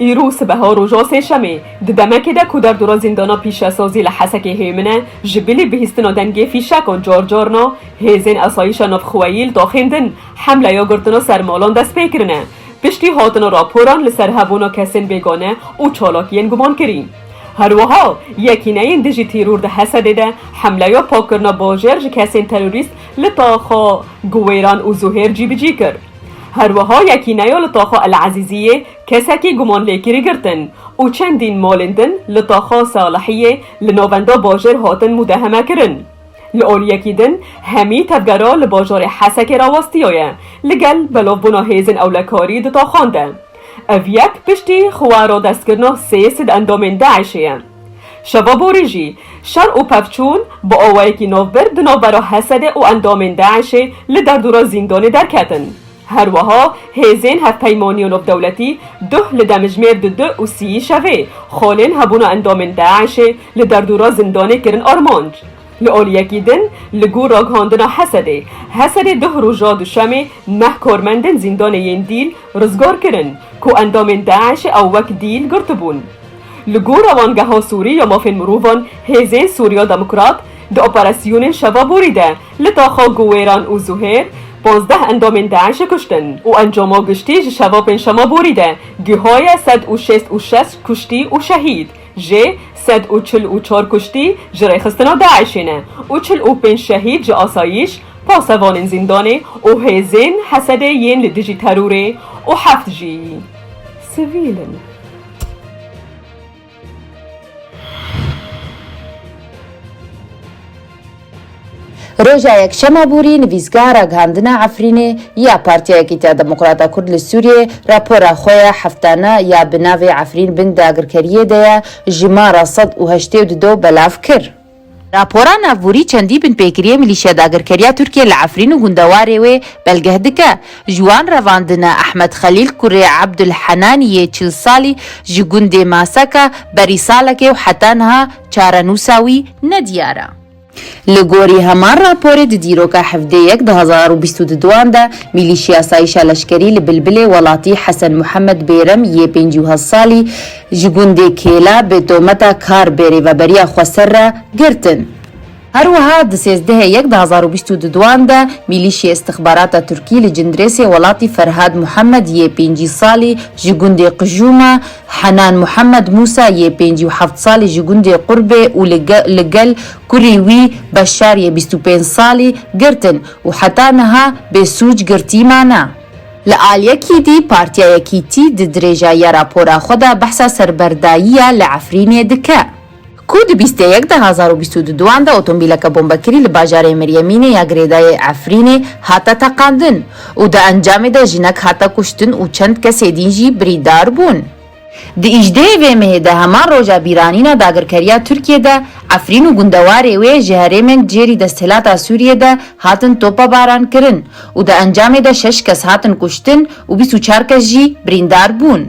Îro sibeha roja sêşemê di demekê de ku derdora zîndana pîşesazî li Hesekê hêmin e, ji bilî bihîstina dengê fîşekan carcarna hêzên asayîşa navxweyî li taxên din hemleya girtina ser malan dest pê kirine piştî hatina raporan li ser hebûna kesên bêgane û çalakiyên gumankirî. Her wiha yekîneyên dijî tîror di Hesedê de hemleya pakkirina bajêr ji kesên terorîst li taxa Guwêran û Zuhêr cîbicî kir. Herwiha yekîneya li taxa El Ezîziyê kesekî gumanlêkirî girtin û çendîn malên din li taxa Salihiyê li navenda bajêr hatin mudehemekirin. Li aliyekî din hemî tevgera li bajarê Hesekê re westiyaye li gel belavbûna hêzên ewlekarî di taxan de. Ev yek piştî xwe radestkirina sê sid endamên DAIŞ'ê ye. Şeva borî jî şer û pevçûn bi awayekî navber di navbera Hesedê û endamên DAIŞ'ê li derdora zîndanê derketin. Her wiha hêzên hevpeymanîya navdewletî duh li demijmêr di du û sîyî şevê xalên hebûna endamên DAIŞ'ê li derdora zindanê kirin armanc. Li aliyekî din li gor ragihandina Hesedê, Hesedê duh roja duşemê neh karmendên zîndanê yên Dîl rizgar kirin ku endamên DAIŞ'ê ew wek dîl girtibûn. Li gor Rewangeha Sûrî ya Mafên Mirovan Hêzên Sûriya Demokrat di operasyonên şeva borî de li taxa Guwêran û Zuhêr pazdeh endamên DAIŞ'ê kuştin û encama giştî ji şeva pêncşema borî de gihaye sed û şêst û şeş kuştî û şehîd. Jê sed û çil û çar kuştî ji rêxistina DAIŞ'ê ne û çil û pênc şehîd ji asayîş, pasevanên zîndanê û hêzên Hesedê yên li dijî terorê û heft jî sivîl in. Roja Yekşema borî nivîsgeha ragihandina Efrînê ya Partiya Yekîtiya Demokrata Kurd li Sûriyê rapora xwe ya heftane ya bi navê Efrîn bin dagirkeriyê de ye jimara sed û heştê û dudo belav kir. Rapora navborî çendî binpêkiriyê milîşya dagirkeriya Tirkiyê li Efrîn û gundewarê wê belgeh dike. Ji wan revandine Ehmed Xelîl kurê Abdul Henaniyê çil salî ji gundê Masaka berî salekê û heta niha Çarenûsa wî ne diyar e. Li gorî heman raporê di dîroka hevdê yek du hezar û bîst û duan de mîlîşî asayîşa leşkerî li Bilbilê welatî Hesen Muhemed Bêrem yê pêncî û hezd salî ji gundê Kêla bi tometa kar bê rêveberiya xweser re girtin. Her wiha di sêzdehê yek di hezar û bîst û du duan de mîlîşyê îstixbarata Tirkî li Cindirêsê welatî Ferhad Muhammed yê pêncî salî ji gundê Qijûma, Henan Muhammed Mûsa yê pêncî û heft salî ji gundê Qurbê û li li gel kurê wî Beşar yê bîst û pênc salî girtin û heta niha bê sûc girtî mane. Li aliyekî dî Partiya Yekîtî di dirêja ya rapora xwe de behsa serberdayîya li Efrînê dike. ku di bîst ê yek de hezar û bîst û du duan de otomobîleke bombekirî li bajarê Miryemînê ya girêdayê Efrînê hate teqandin û di encamê de jinek hate kuştin û çend kesê dîn jî birîdar bûn. Di îjdehê vê mehê de heman roja bîranîna dagirkeriya Tirkiyê de Efrîn û gundewarê wê ji herêmên cêrî desthilata Sûriyê de hatin topebaran kirin û di encamê de şeş kes hatin kuştin û bîst û çar kes jî birîndar bûn.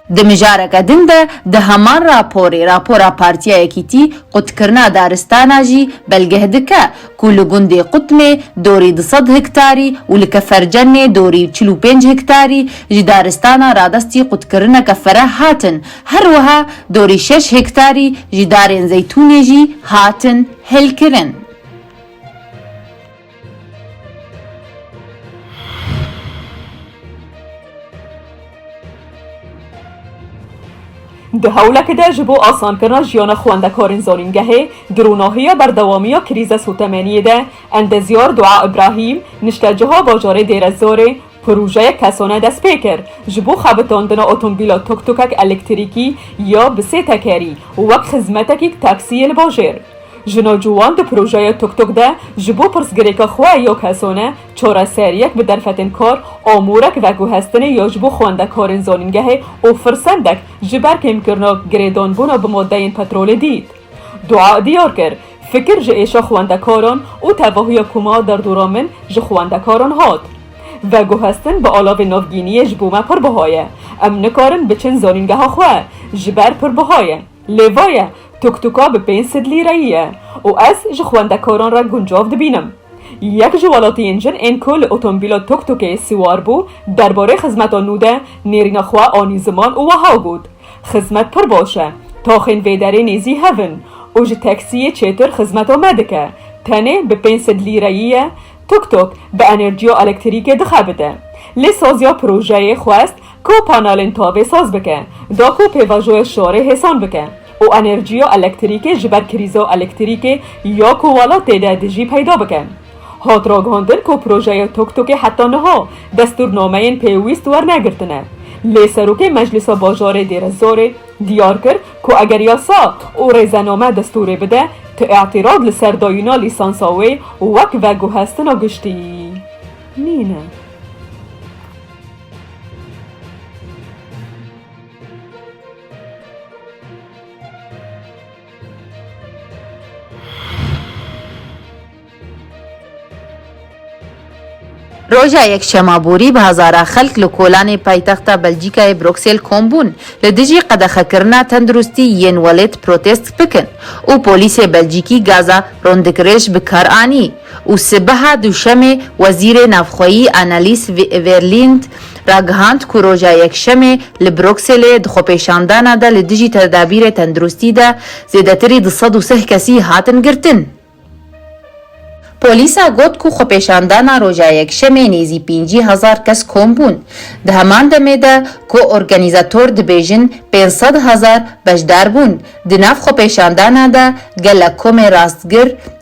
Di mijareke din de di heman raporê Rapora Partiya Yekîtî Qutkirina Daristana jî belgeh dike ku li gundê Qutmê dorî du sed hiktarî û li Kefercennê dorî çil û pênc hiktarî ji daristana radestî qutkirineke fereh hatin her wiha dorî şeş hiktarî ji darên zeytûnê jî hatin hêlkirin. Di hewlekê de ji bo asankirina jiyana xwendekarên zanîngehê di rûnahiya berdewamiya krîza sotemeniyê de endezyar Dua Îbrahîm niştecaha bajarê Dêrezorê Projeyek Kesone dest pê kir, ji bo xebitandina otomobîla tuk-tukek elektrîkî ya bi sê tekerî û wek xizmetekîk taksî yê li bajêr. Jina ciwan di projeya tuk-tuk de ji bo pirsgirêka xwe ya kesone çareseriyek bi derfetên kar, amûrek veguhestinê ya ji bo xwendekarên zanîngehê û firsendek ji ber kêmkirina girêdanbûna bi madeyên petrolê dît. Dua diyar kir, fikir ji êşa xwendekaran û tevahiya ku ma derdora min ji xwendekaran hat. Veguhestin bi alavê navgîniyê ji bo me pir buha ye. Em nikarin biçin zanîngeha xwe, ji ber pir buha ye. Lê va ye, tuktuka bi pênc sed lîreyî ye û ez ji xwendekaran re guncav dibînim. Yek ji welatiyên jin ên ku li otombîla tuktukê siwar bû, derbarê xizmeta nû de nêrîna xwe anî ziman û wiha got, Xizmet pir boş e. Toxên vê derê nêzî hev in û ji teksiyê çêtir xizmeto me dike. Tenê bi pênc sed lîreyî ye, tuk-tuk bi enerjiyo elektirîkê dixebite. Lê saziya projeyê xwest ku panelên tavê saz bike, da ku pêvajoya şarê hêsan bike û enerjiyo elektirîkê ji ber krîzo elektirîkê ya ku welatê de dijî peyda bike. Hat ragihandin ku projeya Toktukê heta niha destûrnameyên pêwîst wernegirtine. Lê Serokê Meclîsa Bajarê Dêrezorê diyar kir ku eger yasa û rêzename destûrê bide, tu îtîrad li ser dayîna lîsansa wê wek veguhestina giştî nîn e. Roja Yekşema borî bi hezara xelk li kolanê paytexta Belcîkayê Bruksêl kom bûn li dijî qedexekirina tenduristî yên welêt protest bikin û polîsê Belcîkî gaza rondikirêj bi kar anî. û sibeha Dûşemê Wezîrê Navxweyî Annelies Verlind ragihand ku roja Yekşemê li Brukselê di xwepêşandana de li dijî tedabîrê tenduristî de zêdetirî du sed û sih kesî hatin girtin. Polîsa got ku xwepêşandana roja Yekşemê nêzî pêncî hezar kes kom bûn, di heman demê de ku organîzator dibêjin pênc sed hezar beşdar bûn di nav xwepêşandana de gelek komên rastgir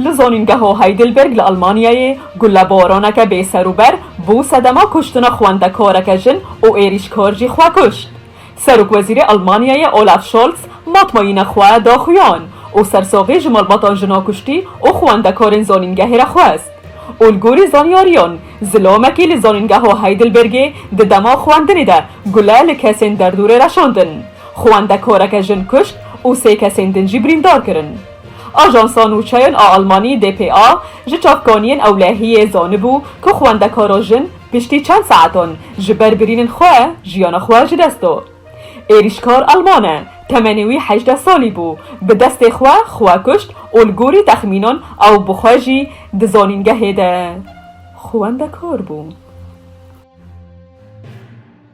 Li Zanîngeha Heidelberg li Elmanyayê gulebaraneke bêserûber bû sedema kuştina xwendekareke jin û êrîşkar jî xwe kuşt. Serokwezîrê Elmanyayê Olaf Scholz matmayîna xwe daxuyan û sersaxî ji malbatan jina kuştî û xwendekarên zanîngehê re xwest û li gorî zanyariyan zilamekî li Zanîngeha Heidelbergê di dema xwendinê de gule li kesên derdorê reşandin. Xwendekoreke jin kuşt û sê kesên din jî birîndar kirin. Ajansa Nûçeyên a Almanî, dpa, ji çavkaniyên ewlehiyê zanibû ku xwendekara jin piştî çend saetan ji ber birînin xwe jiyana xwe ji dest da. Êrîşkar Alman e, temenê wî hejdeh salî bû, bi destê xwe xwe kuşt û li gorî texmînan ew bi xwe jî di zanîngehê de xwendekar bû.